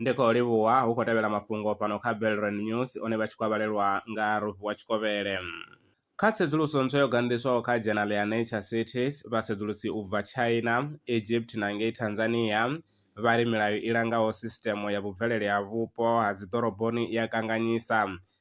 ndi khou livhuwa hu khou tevhela mafhungo fhano kha belrand news one vha tshi khou vhalelwa nga rofhi wa tshikovhele kha tsedzuluso ntswa yo ganḓiswaho kha dzhenal ya nature cities vhasedzulusi u bva china egypt na ngei tanzania vha ri milayo i langaho sisitemo ya vhubvelele ha vhupo ha dziḓoroboni i a kanganyisa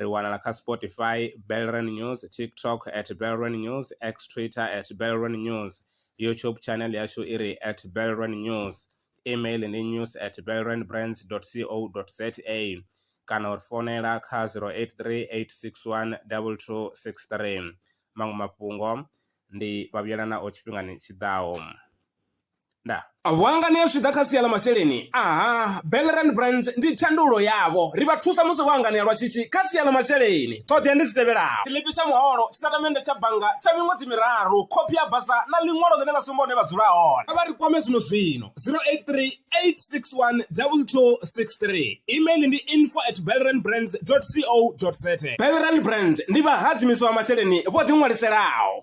ri wanala kha spotify belren news tiktok at belren news x twitter at belren news youtube channel yashu i ri at belren news email ndi news at belren brands co za kana uri fonela kha 083 861 2263 maṅwe mafhungo ndi vhavhuyelana o tshifhingani tshiḓaho nda Vhuangani zwi ḓa kha sia ḽa masheleni aha Bellerand Brands ndi thandulo yavho ri vha thusa musi vho anganea lwa shishi kha sia ḽa masheleni ṱhoḓea ndi dzi tevhelaho tshiḽipi tsha muholo tshitatamennde tsha bannga tsha miṅwedzi miraru khophi ya basa na ḽiṅwalo ḽine ḽa sumba hune vha dzula hone kha vha ri kwame zwino zwino 083 861 2263 email ndi info at bellerandbrands co za Bellerand Brands ndi vhahadzimiswa vha masheleni vho ḓiṅwaliselaho